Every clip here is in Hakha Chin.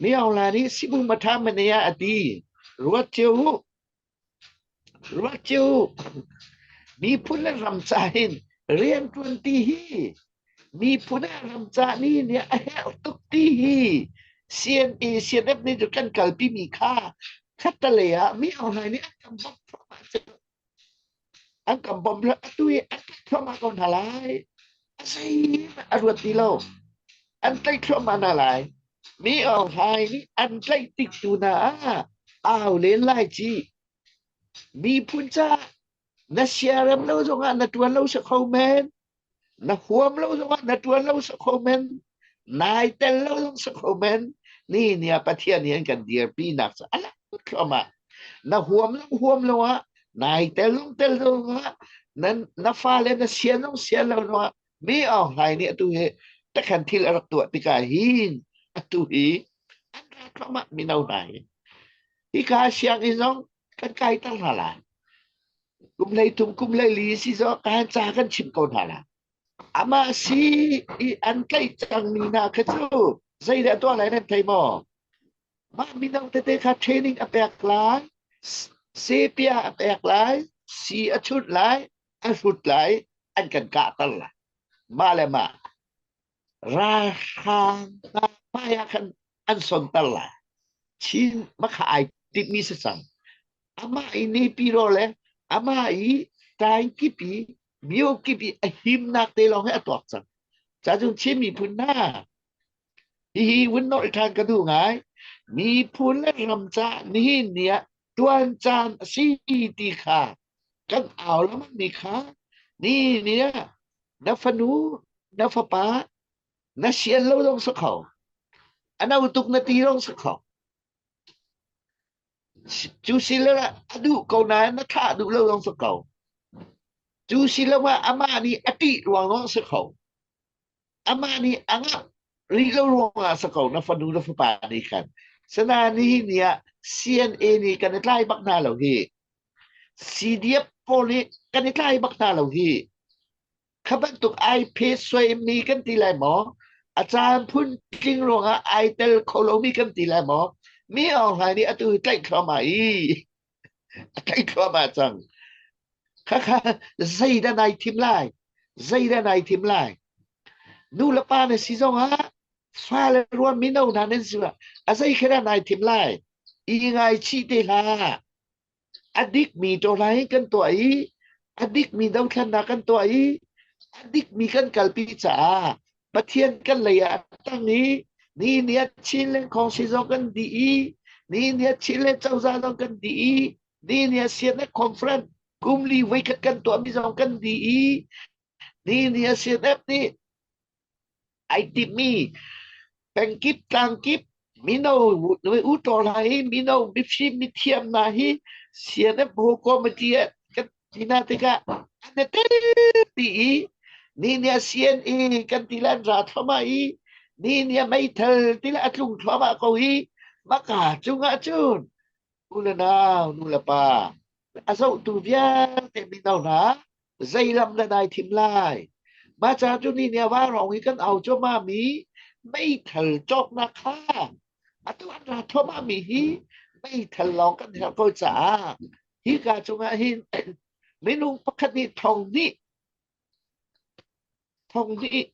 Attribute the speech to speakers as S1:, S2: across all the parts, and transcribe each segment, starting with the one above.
S1: Miohla nih sibum a ṭha man ei ah a ti. Ruat cio uh! Ruat cio uh! Miphun le ram ca hin rianṭuanti hi miphun ah ramca nih nih a herh tuk ti hi CNA CNF nih cun kan kalpimi kha ṭhattelei ah miohla nih an kan bawmh thluahmah cu. An kan bawmh le atu hi an tlaih thluahmah ko hna lai. A zeihmanh a ruat ti lo. An tlaih thluahmah hna lai. Mi Aung Hlaing nih an tlaih tik tu hna ah au len lai ci. Miphun caah na siarem lo zongah na tuan lo si kho men. Na huam lo zongah na ṭuan lo si kho men. Nai tel lo zong si kho men. Nihin ah Pathian hi an kan dirpinak cu a lang thluahmah. Na huam lo huam lo ah nai tel zong tel zongah na, na fale na sian zong sian lo zongah mi Aung Hlaing nih atu hi takhan thil a rak tuah tikah hin atu hi an ra thluahmah mino hna hi. Hi ka siang in zong kan kai tar hna lai. Kum hlei thum kum leili si zawk kan ca kan chim ko hna la. Ama si i an tlaih cangmi hna kha cu zeidah tuah lai nan thei maw? Mah mino tete kha training a pek lai, sepia a pek lai, si a chunh lai, a hrut lai, an kan kahter lai. Mah le mah. Ralhrang hna hmaiah khan an sonter lai. Chin makha ai timhmi si cang. Amah i nepiro le amah i tainkipi miokipi a himnak te lawng hi a tuak cang. Cacun Chin miphun hna hihi vun norh ṭhan ka duh ngai. Miphun le ram ca nihin ni ah ṭuan caan a si ti kha kan au lengmangmi kha ni ni ah na fanu na fapa na sian lo zong si kho ano tuk na ti zong si kho cu si le a duh ko nain na thah duh lo zong si ko cu si lo ah amah nih a ṭih ruang zong si kho amah nih a ngah rih lo ruangah a si ko na fanu na fapa nih khan sanain nihin ni ah CNA nih kan i tlai bak hna lo hi CDF pawl nih kan i tlai bak hna lo hi kha bantuk ai phe suaimi kan ti lai maw a caan phun tling ruangah ai tel kho lomi kan ti lai maw mi aung hlaing nih atu hi tlaih thluahmah i a tlaih thluahmah cang. Khakha zeidah nai thim lai? Zeidah nai thim lai? Nu le pa na si zong ah fale ruan mino hna nan si ah a zei khe dah nai thim lai? I ngai chih te hlah. A dik mi to lai kan tuah i a dik mi dothlannak kan tuah i a dik mi kan kalpi caah Pathian kan lei ah a tang i ni ni a chin le khawngsi zong kan dih i ni ni a chin le cozah zong kan dih i ni ni a sian le conference kum li voikhat kan tuahmi zong kan dih i ni ni a sian ep nih ai timmi pengkip tlangkip Mino u ṭawr hna hi mino mifim mithiam hna hi CNF whole committee ah kan tina tikah an i tel ti i ni nih a CNA kan ti le an ra thluahmah i ni nih a meithal ti le a tlung thluahmah ko hi maka cungah cun U le nau, nu le pa, a zohtu vialte mino hna, zei lam na dai thim lai? Maca cu ni nia va rong i kan au cuama mi meithal cawknak kha atu an ra thoma mi hi meithal lawng kan herh ko caah hi ka cungah hin minung pakhat nih thong hnih thong hnih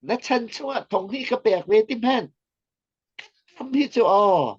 S1: na chan chungah thong hnih ka pek ve ti hmenh ram hi cu aw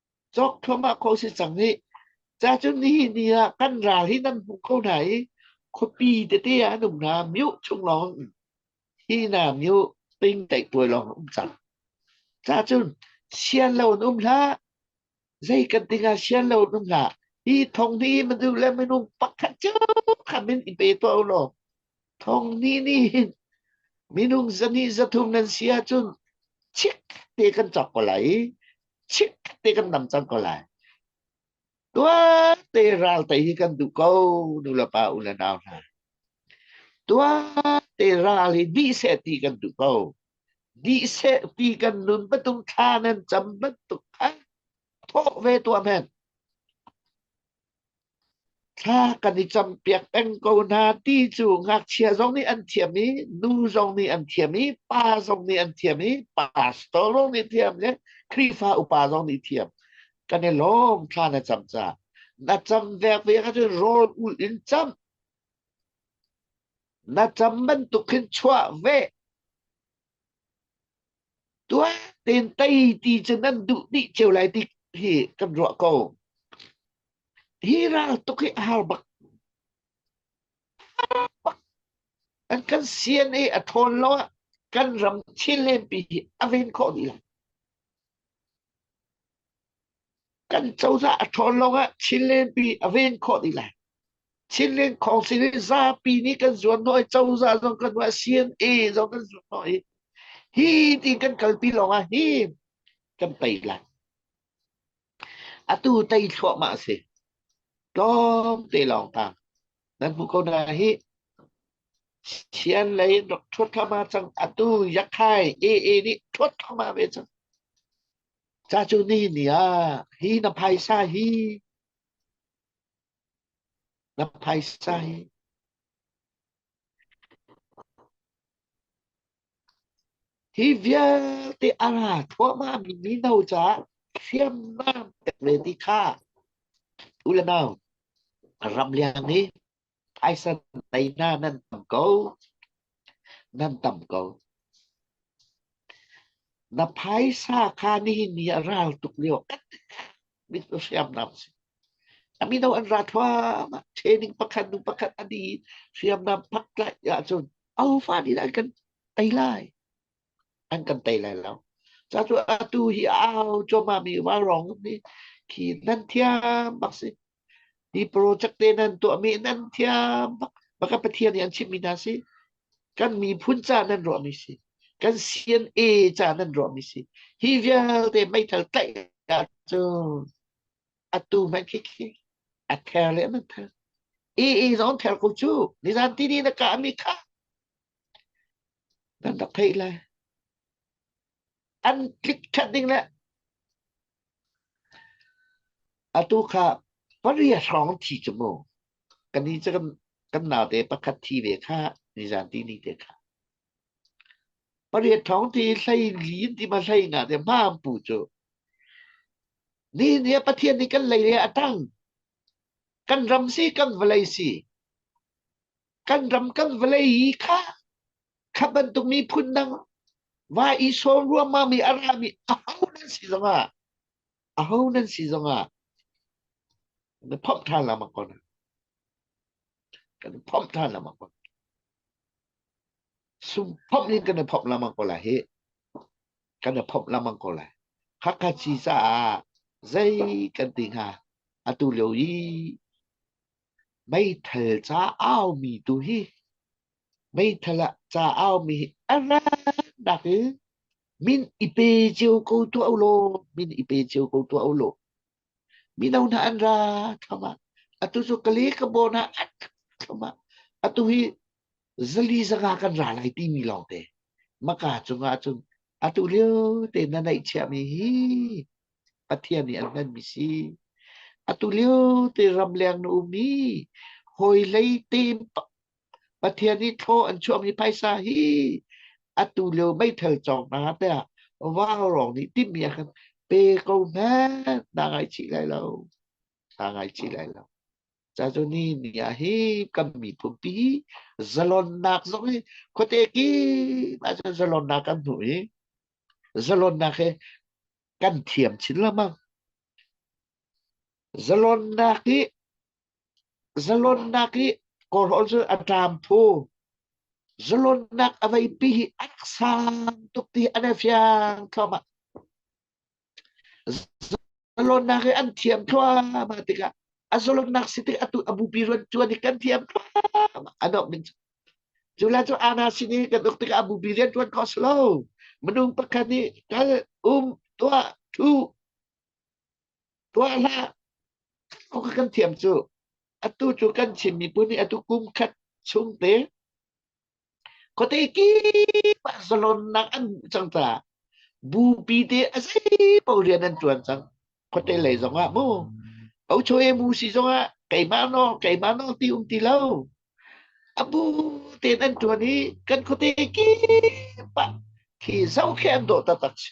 S1: cawk thluahmah khawh si cang i cacun nihin ni ah kan ral hi nan hmu kho hna i khuapi tete ah an um hna miu chung lawng hi na miu ting teih tuai lawng um cang cacun sian lo an um hlah zei kan tingah sian lo an um hlah hi thong ni manu le minung pakhat cu khamin i pe to lo thong ni ni minung zani zathum nan sia cun chik te kan chok ko lai chit te kan dam cang ko lai tuate ralte hi kan duh ko nu le pa u le nau hna tuate ral hi dih seh ti kan duh ko dih seh ti kan nun patung thla nan cam bantuk kha thawh ve tuam hen Thla kan i campiak peng ko hna ti cu ngakchia zong nih an thiam i, nu zong nih an thiam i, pa zong nih an thiam i, pastor zong nih thiam le Khrihfa upa zong nih thiam. Kan i lawm thla na cam caah. Na cam vek ve ahcun rawl ul in cam. Na cam bantuk khin chuah ve. Tuah tein tei ti cu nan duh dih cio lai ti hi kan ruah ko. Hi ral tuk hi a har bak. An kan sian i a ṭhawn lo ah kan ram thil len pi hi a ven khawh dih lo. Kan cozah a ṭhawn lawngah Chinlenpi a ven khawh dih lai. Chinland Council hi zapi nih kan zuarhnawh i cozah zong kan zuarhnawh i CNA zong kan zuarhnawh i hi ti kan kalpi lawngah hi kan pei lai. Atu tei thluahmah a si. Tlawmte lawngtang nan hmu ko na hi Chian lei rak ṭhuat thluahmah cang atu Yakhai AA nih ṭhuat thluahmah ve cang. Ca cu nihni ah hi na phaisa hi na phaisa hi hi vialte a ra thluahmah mi mino caah hriamnam tek ve ti kha tu le nau ram liang nih Phaisa lei hna nan tam ko. Nan tam ko. Na phaisa kha nihin ni a ral tuk lio kan mit hriamnam si. Kami daw an ra thuam. Training pakhat nu pakhat adi hriamnam pak lai ahcun aufa ni an kan tei lai. An kan tei lai lo. Ca cu atu hi au choma mi wa rong ni khi nan thiam bak si. Hi project te nan tuahmi nan thiam bak. Ba kan Pathian nih an chimhmi hna si. Kan miphun ca nan ruahmi si. Kan CNA ca nan ruahmi si. Hi vialte meithal tlaih ahcun a tu hmanh khi khi a ther le nan ther. EE zong ther ko cu. Nizan tini na kahmi kha nan rak theih lai. an tlik ṭhat ding le atu kha paria hrawng thi cu mu kan ni cu kan kan naute pakhat thi ve kha nizan ti ni te kha paria thong ti hlei li ti ma hlei nga te mam pu chu ni ni pathian ni kan lei le atang kan ram si kan vlei si kan ram kan vlei kha Kha bantuk miphun dang va i sawm ruangmang mi a rami aho nan si zongah aho nan si zongah na phomh than lengmang ko na kan phomh than lengmang ko sum phomh in kan phomh lengmang ko lai hi kan phomh lengmang ko lai hakha ci caah zei kan ti hnga atu lio i meithal ca au mi tu hi Meithal ah ca a aumi hi a rannak in min i pe cio ko tuah ulaw, min i pe cio ko tuah ulaw. Mino hna an ra thlam ah, atu cu Kale Kabawn ah an thlam ah, atu hi zali zanga kan ra lai timi lawngte. Maka cungah cun atu lio te na neihchiahmi hi Pathian nih an hmanmi si. Atu lio te ram leng na um i, hawi lei te Pathian nih thlaw an chuahmi phaisa hi atu lio meithal cawng hna tiah vanglawng nih timhmi a kan pe ko hmanh na ngaichih lai lo. Na ngaichih lai lo. Cazuni ni ah hi kan miphun pi zalonnak zong hi khuate kim ahcun zalonnak kan hmu i zalonnak he kan thiam chin lamang. Zalonnak hi zalonnak hi kawhrawl cu a ṭam phu. Zalonnak a veipi hi a rak sang tuk ti hi an i fiang thluahmah. Zalonnak hi an thiam thluahmah tikah a zalonnak si tik atu a bupi rianṭuan hi kan thiam thluahmah a dongh ding cu. Cu le cu Anna sin i kan uk tikah a bupi rianṭuan khawh a si lo. Minung pakhat nih kal, um, tuah, ṭhu, Tuah hlah, aw ka kan thiam cu. Atu cu kan Chin miphun nih atu kum khat chung te khuate kip ah zalonnak an hmuh cang caah bupi te a zei paoh rian an ṭuan cang. Khuate lei zongah mu. Ocho e mu si zongah keimah no, keimah no ti um ti lo. Abu ten an ṭuan i kan khuate kip ah khi zoh khi an dawh taktak si.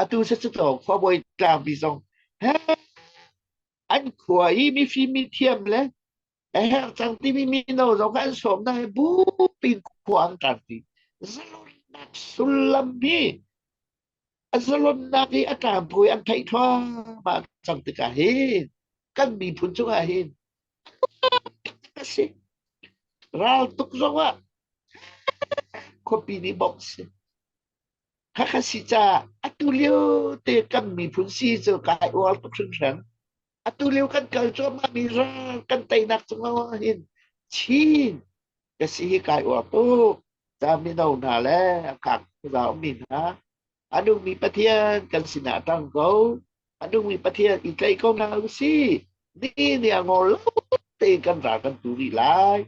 S1: Atu siscaw khuabawi tlangpi zong he an khua i mifim mi thiam le a herh cang timi mino zong kha an sawmnak he bupi in khua an tlangpi. Zalonnak sullam hi a zalonnak hi a tlangpui an theih thluahmah cang tikah hin kan miphun cungah hin a si. Ral tuk zong ah khuapi nih bawk si. Hakha si caah atulio te kan miphun si cu kai uar tuk hringhran. Atulio kan kal cuahmahmi ral kan teinak cung lawngah hin Chin ka si hi kai uar tuk. Ca mino hna le a kang khuazau mi hna, a nungmi Pathian kan sinah a ṭang ko. A nungmi Pathian i tlaih ko hna usih. Ni nih a ngol lo tein kan ral kan tu rih lai.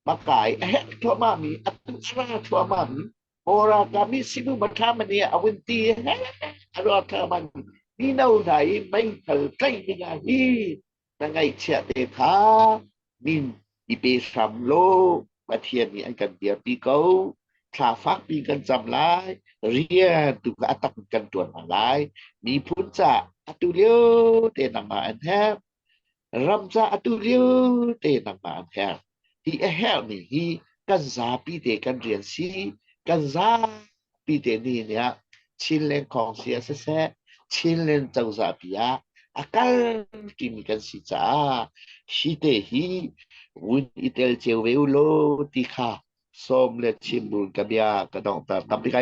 S1: Makai a herh thluahmahmi, a tanghra thluahmahmi, hora kami sinu mathamani awinti he alo thaman mino hna i meital tlaih dingah hi na ngaihchia te kha min i pe hram law Pathian nih an kan biapi ko thla fakpi kan cam lai rian tu kha a tak kan tuan hna lai miphun ca atu lio te nangmah an herh Ram ca atu vialte nangmah an herh. Hi a herhmi hi kan zapi te kan rian si. Kan zapi te nih nih ah Chinland khawng si ah siseh, Chinland cozah pi ah a kal timi kan si caah hi te hi vun i tel cio ve u law ti kha sawm le chim buin ka bia ka donghter. Ka pi kai